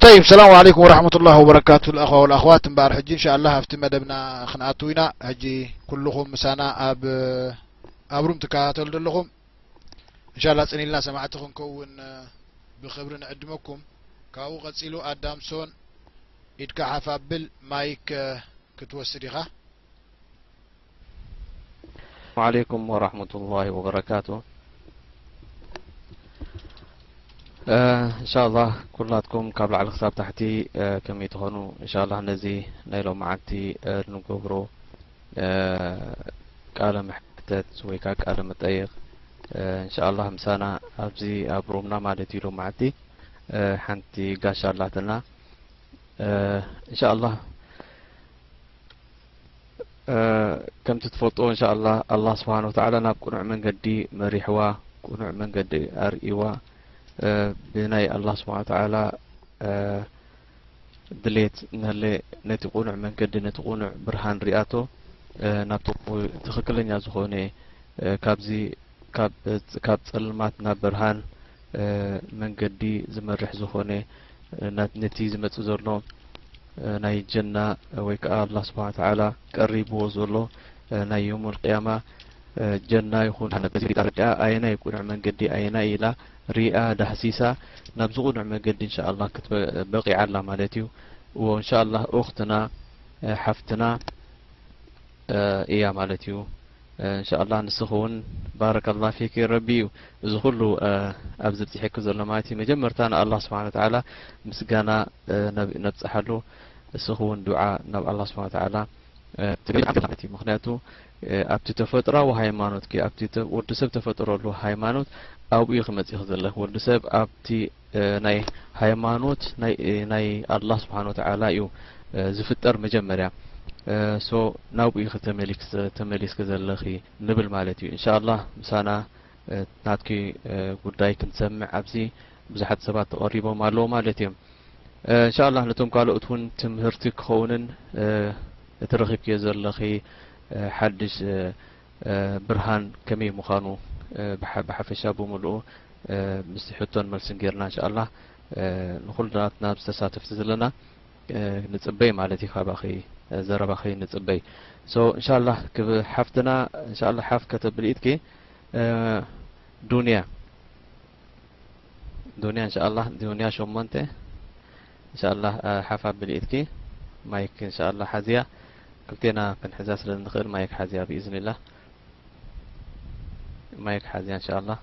طይብ ሰላሙ ዓለይኩም ወረሕመቱላህ ወበረካቱ ልኣኸዋ ወልኣኽዋት እምበኣር ሕጂ እንሻ ኣላ ኣብቲ መደብና ክንኣትው ኢና ሕጂ ኩልኹም ምሳና ኣብ ኣብ ሩም ትከታተሉ ዘለኹም እንሻ ላ ፅኒኢልና ሰማዕቲ ክንከውን ብክብሪ ንዕድመኩም ካብኡ ቀፂሉ ኣዳምሶን ኢድካ ሓፍ ኣብል ማይክ ክትወስድ ኢኻ ዓለይኩም ወራህመቱላሂ ወበረካቱ እንሻላህ ኩላትኩም ካብ ላዕሊ ክሳብ ታሕቲ ከመይ ትኾኑ እንሻላህ ነዚ ናይ ሎም መዓልቲ ንገብሮ ቃለ መሕተት ወይ ከዓ ቃለ መጠይቕ እንሻላህ ምሳና ኣብዚ ኣብ ሮምና ማለት እዩ ሎም መዓልቲ ሓንቲ ጋሻ ኣላትና እንሻላህ ከምቲ ትፈልጥዎ እንሻ ኣላ ኣላ ስብሓን ወተላ ናብ ቅኑዕ መንገዲ መሪሕዋ ቅኑዕ መንገዲ ኣርእዋ ብናይ ኣላ ስብሓን ወተላ ድሌት እናለ ነቲ ቁኑዕ መንገዲ ነቲ ቁኑዕ ብርሃን ሪኣቶ ናብቲ ትኽክለኛ ዝኾነ ካብዚ ካብ ጸልማት ናብ ብርሃን መንገዲ ዝመርሕ ዝኾነ ነቲ ዝመጽእ ዘሎ ናይ ጀና ወይ ከኣ ኣላ ስብሓን ተላ ቀሪብዎ ዘሎ ናይ ዮም ልቅያማ ጀና ይኹን ጣርቂያ ኣየናይ ቁኑዕ መንገዲ ኣየናይ ኢላ ሪኣ ዳህሲሳ ናብዚ ቁኑዕ መንገዲ እንሻ ኣላ ክትበቂዓ ኣላ ማለት እዩ እዎ እንሻ ኣላ ኡክትና ሓፍትና እያ ማለት እዩ እንሻኣላህ ንስኺ እውን ባረከላህ ፊኪ ረቢ እዩ እዚ ኩሉ ኣብዚ ብፂሒኪ ዘሎ ማለት እዩ መጀመርታ ንኣላህ ስብሓን ወተዓላ ምስጋና ነብፀሓሉ እስኺ እውን ዱዓ ናብ ኣላህ ስብሓን ወተዓላ ትብዓት እዩ ምክንያቱ ኣብቲ ተፈጥራዊ ሃይማኖትኪ ኣብቲ ወዲ ሰብ ተፈጥረሉ ሃይማኖት ኣብኡ እዩ ክመፂኺ ዘለኺ ወዲ ሰብ ኣብቲ ናይ ሃይማኖት ናይ ኣላህ ስብሓን ወተዓላ እዩ ዝፍጠር መጀመርያ ሶ ናብኡ ኢኺ ተመሊስኪ ዘለኺ ንብል ማለት እዩ እንሻላህ ምሳና ናትኪ ጉዳይ ክንሰምዕ ኣብዚ ብዙሓት ሰባት ተቐሪቦም ኣለዉ ማለት እዮም እንሻላህ ነቶም ካልኦት እውን ትምህርቲ ክኸውንን እቲ ረኺብኪዮ ዘለኺ ሓድሽ ብርሃን ከመይ ምኻኑ ብሓፈሻ ብምሉኡ ምስቲ ሕቶን መልስን ጌርና እንሻኣላህ ንኹልናትና ምስ ተሳተፍቲ ዘለና ንጽበይ ማለት እዩ ካባኺ ዘረባኺ ንጽበይ so እንሻኣላህ ክብ ሓፍትና እንሻኣላህ ሓፍ ከተብሊ ኢድኪ ዱንያ ዱንያ እንሻኣላህ ዱንያ ሸሞንተ እንሻኣላህ ሓፍ ኣብሊ ኢድኪ ማይክ እንሻኣላህ ሓዝያ ክልቴና ክንሕዛ ስለ እንኽእል ማይክ ሓዝያ ብኢዝኒላህ ማይክ ሓዝያ እንሻኣላህ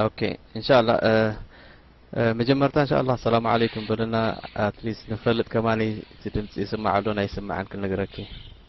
ኦኬ እንሻኣላህ መጀመርታ እንሻኣላህ ሰላም ዓለይኩም በልና ኣትሊስት ንፈልጥ ከማኒ እቲ ድምፂ ይስማዕ ኣሎን ኣይስማዕን ክንነግረኪ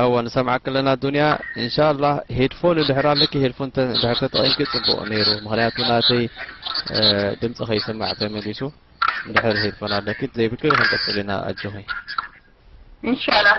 እወ ንሰምዓኪ ኣለና ዱንያ እንሻላህ ሄድፎን ድሕር ኣለኪ ሄድፎን ድሕር ተጠቒምኪ ጽቡቕ ነይሩ ምክንያቱ ናተይ ድምጺ ከይስማዕ ተመሊሱ ድሕር ሄድፎን ኣለኪ ዘይብልኪ ክንቅጽል ኢና ኣጆኺ እንሻላህ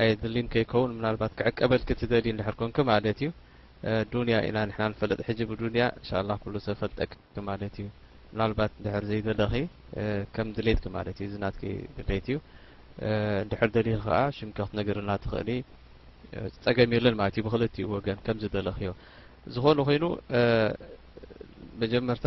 ኣየድሊን ከይከውን ምናልባት ክዕቀበልኪ ትደልዪ እንድሕር ኮንኪ ማለት እዩ ዱንያ ኢና ንሕና ንፈልጥ ሕጂ ብዱንያ እንሻላህ ኩሉ ሰብ ፈልጠኪ ማለት እዩ ምናልባት እንድሕር ዘይደለኺ ከም ድሌትኪ ማለት እዩ እዚ ናትኪ ድሌት እዩ እንድሕር ደሊኺ ከኣ ሽምኪ ክትነግርልና ትኽእሊ ጸገም የለን ማለት እዩ ብክልቲኡ ወገን ከም ዝደለኽዮ ዝኾነ ኮይኑ መጀመርታ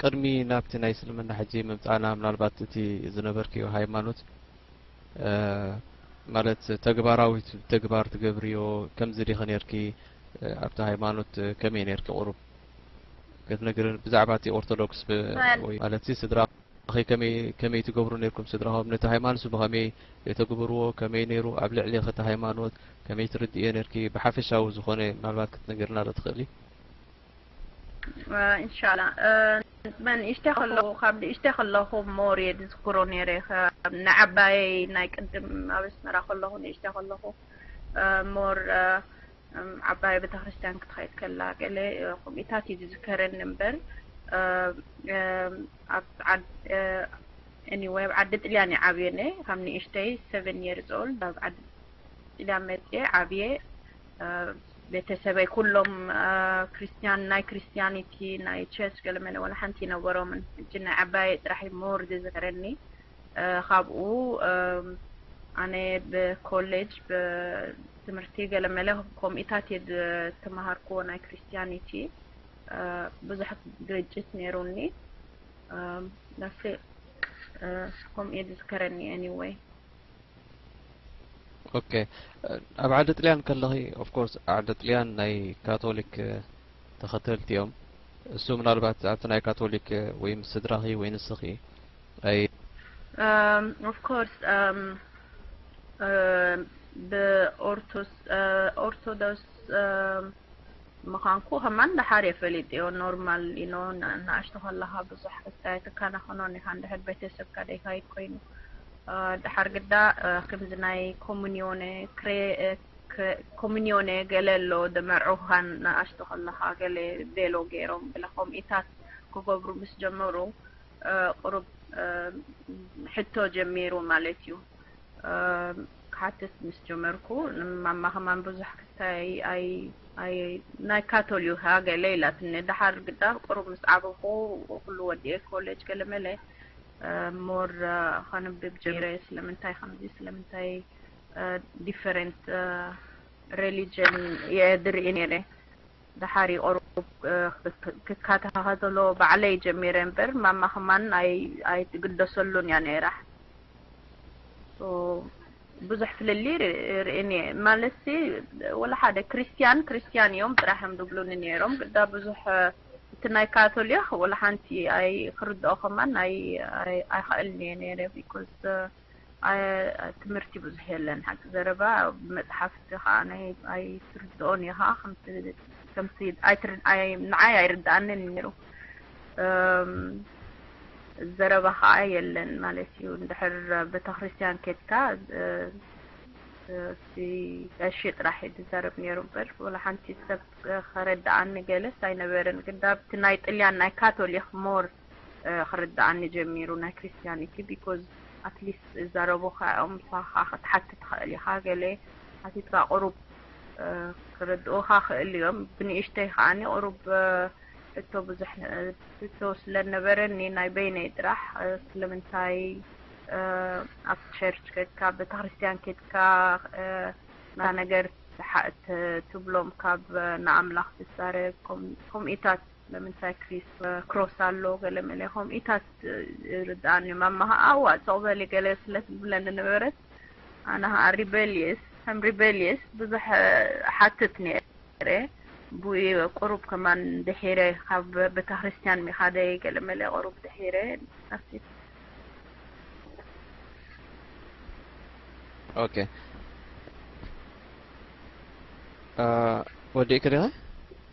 ቅድሚ ናብቲ ናይ እስልምና ሕጂ ምምጻእና ምናልባት እቲ ዝነበርክዮ ሃይማኖት ማለት ተግባራዊ ተግባር ትገብርዮ ከምዚ ዲኺ ነርኪ ኣብቲ ሃይማኖት ከመይ ነርኪ ቁሩብ ክትነግር ብዛዕባ እቲ ኦርቶዶክስ ማለት ስድራ ከመይ ትገብሩ ነርኩም ስድራኹም ነቲ ሃይማኖት ብኸመይ የተግብርዎ ከመይ ነይሩ ኣብ ልዕሊ ኸቲ ሃይማኖት ከመይ ትርድእዮ ነርኪ ብሓፈሻዊ ዝኾነ ምናልባት ክትነግርና ዶ ትኽእሊ ኢንሻላ መን እሽተ ከለኹ ካብ ንእሽተ ከለኹ ሞር እየ ዝዝክሮ ነይረ ንዓባየይ ናይ ቅድም ኣብ ኣስመራ ከለኹ ንእሽተ ከለኹ ሞር ዓባየ ቤተክርስትያን ክትኸይድ ከላ ገለ ከምኡታት እዩ ዝዝከረኒ እምበር ኣብ ኤኒወይ ኣብ ዓዲ ጥልያን እየ ዓብየ ነይ ካብ ንእሽተይ ሰቨን የርስ ኦልድ ኣብ ዓዲ ጥልያን መፅየ ዓብየ ቤተሰበይ ኩሎም ክርስትያን ናይ ክርስትያኒቲ ናይ ቸርች ገለመለ ወላ ሓንቲ ነበሮምን እጅ ናይ ዓባየ ጥራሕ ሞር ዝዝክረኒ ካብኡ ኣነ ብኮሌጅ ብትምህርቲ ገለመለ ኮምኢታት እየ ዝተምሃርክዎ ናይ ክርስትያኒቲ ብዙሕ ግርጭት ነይሩኒ ናሲ ከምኡ እየ ዝዝከረኒ ኤኒወይ ኦከ ኣብ ዓዲ ጥልያን ከለኺ ኦፍኮርስ ዓዲ ጥልያን ናይ ካቶሊክ ተኸተልቲ እዮም እሱ ምናልባት ኣብቲ ናይ ካቶሊክ ወይ ምስ ስድራኺ ወይ ንስኺ ኣይ ኦፍኮርስ ብኦርቶስ ኦርቶዶክስ ምኻንኩ ከማን ደሓር እየ ፈሊጤዮ ኖርማል ዩኖ ንኣሽቱ ከለኻ ብዙሕ ኣይትካናኸኖን ኢኻ እንድሕር ቤተሰብካ ደይካይድ ኮይኑ ደሓር ግዳ ከምዚ ናይ ኮሙኒዮነ ኮሙኒዮነ ገለ ኣሎ ደመርዑኻን ንኣሽቱ ከለኻ ገለ ቤሎ ገይሮም ገለ ከምኢታት ክገብሩ ምስ ጀመሩ ቁሩብ ሕቶ ጀሚሩ ማለት እዩ ክሓትት ምስ ጀመርኩ ንማማ ከማን ብዙሕ ክታይ ኣይ ናይ ካቶሊካ ገለ ኢላትኒ ደሓር ግዳ ቁሩብ ምስ ዓበኹ ኩሉ ወዲኤ ኮሌጅ ገለ መለ ሞር ከንብብ ጀሚረ ስለምንታይ ከምዚ ስለምንታይ ዲፈረንት ሬሊጅን እየ ዝርኢ ነይረ ደሓር እዩ ቁሩብ ክካታኸተሎ ባዕለይ ጀሚረ እምበር ማማ ከማን ኣይትግደሰሉን እያ ነይራ ብዙሕ ፍልልይ ርእን እየ ማለትሲ ወላ ሓደ ክርስትያን ክርስትያን እዮም ጥራሕ እዮም ዝብሉኒ ነይሮም ግዳ ብዙሕ እቲ ናይ ካቶሊክ ወላ ሓንቲ ኣይ ክርድኦ ከማን ኣይክእልን እየ ነይረ ቢኮዝ ኣየ ትምህርቲ ብዙሕ የለን ሓቂ ዘረባ ብመጽሓፍቲ ከኣ ናይ ኣይትርድኦን ኢኻ ከምቲ ንዓይ ኣይርድኣንን ነይሩ ዘረባ ከኣ የለን ማለት እዩ እንድሕር ቤተክርስትያን ኬድካ እቲ ቀሺ ጥራሕ እዩ ዝዛረብ ነይሩ እምበር ወላ ሓንቲ ሰብ ከረድኣኒ ገለስ ኣይነበርን ግዳብቲ ናይ ጥልያን ናይ ካቶሊክ ሞር ክርድኣኒ ጀሚሩ ናይ ክርስትያኒቲ ቢኮዝ ኣትሊስት ዝዛረቡካ እዮም ንስካ ከኣ ክትሓቲ ትክእል ኢካ ገለ ሓቲትካ ቁሩብ ክርድኡካ ይክእሉ እዮም ብንእሽተይ ከኣ ቁሩብ ሕቶ ብዙሕ ሕቶ ስለ ነበረኒ ናይ በይነይ ጥራሕ ስለምንታይ ኣብ ቸርች ከድካ ቤተክርስትያን ከድካ ናይ ነገር ትብሎም ካብ ንኣምላኽ ትዛረብ ከምኢታት ለምንታይ ክሪስ ክሮስ ኣሎ ገለ መለ ከምኡ ኢታት ይርድኣኒ ማማ ኸኣ እዋ ጽቕ በሊ ገለ ስለ ትብለኒ ነበረት ኣነ ኸኣ ሪበልየስ ከም ሪበልየስ ብዙሕ ሓትት ነይረ ቡይ ቁሩብ ከማን ድሒረ ካብ ቤተ ክርስቲያን ሚኻደይ ገለ መለ ቁሩብ ድሒረ ኣሲት ኦኬ ወዲእክ ዲኸ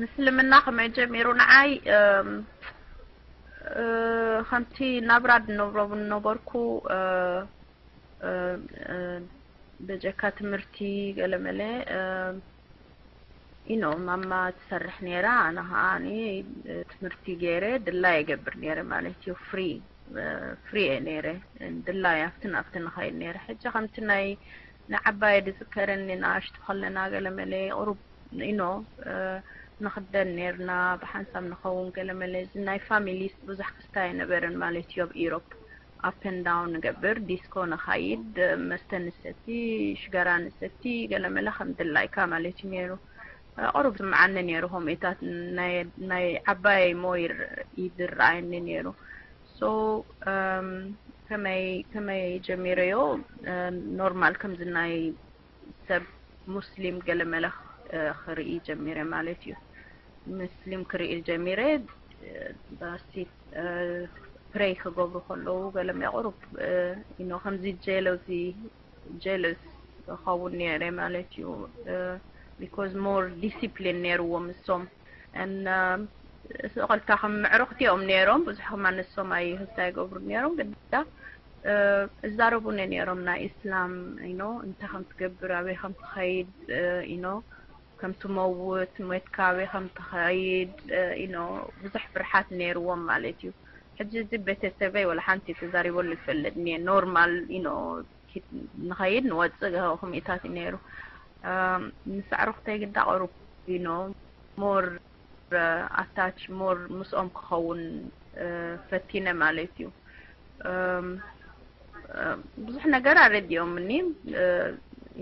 ምስልምና ከመይ ጀሚሩ ንዓይ ከምቲ ናብራ ድነብሮ ዝነበርኩ በጀካ ትምህርቲ ገለመለ ኢኖ ማማ ትሰርሕ ነይራ ኣነ ከዓ እኔ ትምህርቲ ገይረ ድላይ የገብር ነይረ ማለት እዩ ፍሪ ፍሪ እየ ነይረ ድላይ ኣብትን ኣብትን ንኸይድ ነይረ ሕጂ ከምቲ ናይ ንዓባየ ድዝከረኒ ንኣሽቱ ከለና ገለመለ ቁሩብ ኢኖ ንክደን ነርና ብሓንሳብ ንከውን ገለመለ እዚ ናይ ፋሚሊስ ብዙሕ ክስታይ ኣይነበረን ማለት እዩ ኣብ ኢሮፕ ኣፕ ኣንድ ዳውን ንገብር ዲስኮ ንካይድ መስተ ንሰቲ ሽጋራ ንሰቲ ገለመለ ከም ድላይካ ማለት እዩ ነሩ ቁሩብ ዝስምዓኒ ነሩ ከምኢታት ናይ ዓባየይ ሞይር እዩ ዝረኣየኒ ነሩ So ከመይ ከመይ ጀሚረዮ ኖርማል ከምዚ ናይ ሰብ ሙስሊም ገለ መለ ክርኢ ጀሚረ ማለት እዩ ሙስሊም ክርኢ ጀሚረ ባሲ ፕሬይ ክገብሩ ከለዉ ገለ መቕሩብ ኢኖ ከምዚ ጀለዚ ጀለስ ክኸውን ነይረ ማለት እዩ ቢኮዝ ሞር ዲሲፕሊን ነይርዎም እሶም እን ኸልታኹም ምዕሩኽቲ እዮም ነይሮም ብዙሕኹም ኣነሶም ኣይ ህዝታ ይገብሩ ነይሮም ግዳ እዛረቡኒ ነይሮም ናይ እስላም ኢኖ እንታይ ከም ትገብር ኣበይ ከም ትኸይድ ኢኖ ከም ትመውት ሞትካ ኣበይ ከም ትኸይድ ኢኖ ብዙሕ ፍርሓት ነይርዎም ማለት እዩ ሕጂ እዚ ቤተሰበይ ወላ ሓንቲ ተዛሪበሉ ይፈልጥ እኒኤ ኖርማል ኢኖ ንኸይድ ንወጽእ ኮሚኢታት እዩ ነይሩ ምስ ኣዕሩኽተይ ግዳ ቐሩብ ዩኖ ሞር ኣታች ሞር ምስኦም ክኸውን ፈቲነ ማለት እዩ ብዙሕ ነገር ኣረዲኦምኒ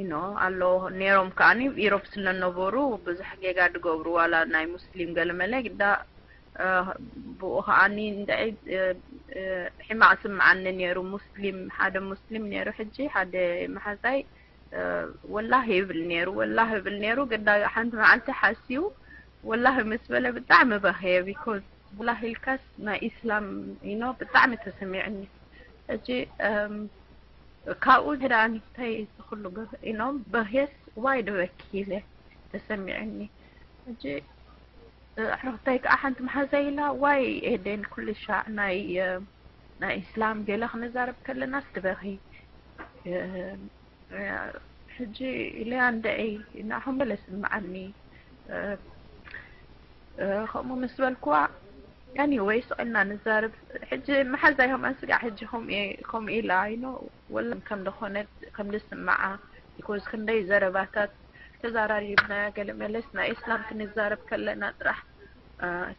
ዩኖ ኣሎ ነይሮም ከዓኒ ኢሮብ ስለነበሩ ብዙሕ ጌጋ ድገብሩ ዋላ ናይ ሙስሊም ገለመለ ግዳ ብኡ ከኣ ንደይ ሒማቅ ይስምዓኒ ነሩ ሙስሊም ሓደ ሙስሊም ነሩ ሕጂ ሓደ ማሓዛይ ወላሂ ይብል ነሩ ወላሂ ይብል ነሩ ግዳ ሓንቲ ማዓልቲ ሓስዩ ወላሂ ምስ በለ ብጣዕሚ በክየ ቢኮዝ ወላሂ ኢልካስ ናይ ኢስላም ኢኖ ብጣዕሚ ተሰሚዕኒ ሕጂ ካብኡ ግዳ እንታይ ዝኽሉ ኢኖም በህስ ዋይ ድበኪ ኢለ ተሰሚዕኒ ሕጂ ኣሕርክተይ ካኣ ሓንቲ ማሓዛይ ኢላ ዋይ ኤደን ኩልሻዕ ናይ ናይ ኢስላም ገለ ክንዛረብ ከለናስ ትበኪ ሕጂ ኢለያ እንድዒ ናዓኹም ገለ ስምዓኒ ከምኡ ምስ በልኩዋ ኣኒወይ ስቅልና ንዛርብ ሕጂ ማሓዛይ ከማን ስጋዕ ሕጂ ከምኡ ኢላ ኢኖ ወላ ከም ደኾነት ከም ዝስምዓ because ክንደይ ዘረባታት ተዛራሪብና ገለ መለስ ናይ እስላም ክንዛረብ ከለና ጥራሕ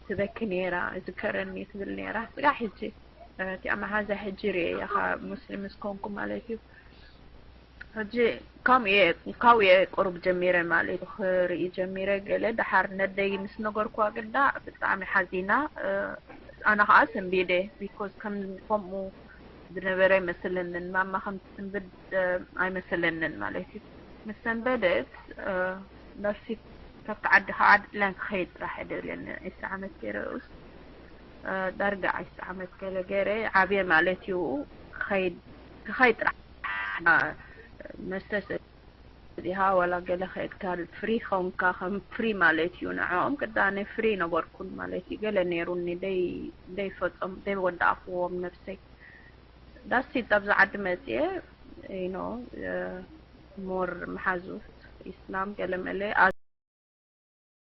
ትበኪ ነይራ ዝከረኒ ትብል ነይራ ስጋ ሕጂ እቲኣ መሓዛ ሕጂ ርኤያ ካብ ሙስሊም ምስ ኮንኩ ማለት እዩ ሕጂ ከምኡ እየ ካብኡ እየ ቁሩብ ጀሚረ ማለት ክርኢ ጀሚረ ገለ ደሓር ነደይ ምስ ነገርኩዋ ግዳ ብጣዕሚ ሓዚና ኣነ ከዓ ሰንቢደ ቢኮዝ ከምኡ ዝነበረ ኣይመስለንን ማማ ከም ትስንብድ ኣይመስለንን ማለት እዩ ምስ ሰንበደት ነፍሲ ካብቲ ዓዲ ከዓ ድለን ክኸይድ ጥራሕ ደልየኒ ዒስራ ዓመት ገይረ ኡስ ዳርጋ ዒስራ ዓመት ገለ ገይረ ዓብየ ማለት እዩ ክኸይድ ክኸይድ ጥራሕ መስተሰ ዲሃ ዋላ ገለ ሄክታር ፍሪ ኾንካ ከም ፍሪ ማለት እዩ ንዕኦም ግዳ ኣነ ፍሪ ነበርኩን ማለት እዩ ገለ ኔሩኒ ደይ ፈጾም ደይ ወዳእክዎም ነብሰይ ዳስ ኢት ኣብዚ ዓዲ መጽየ you know ሞር መሓዙት ኢስላም ገለ መለ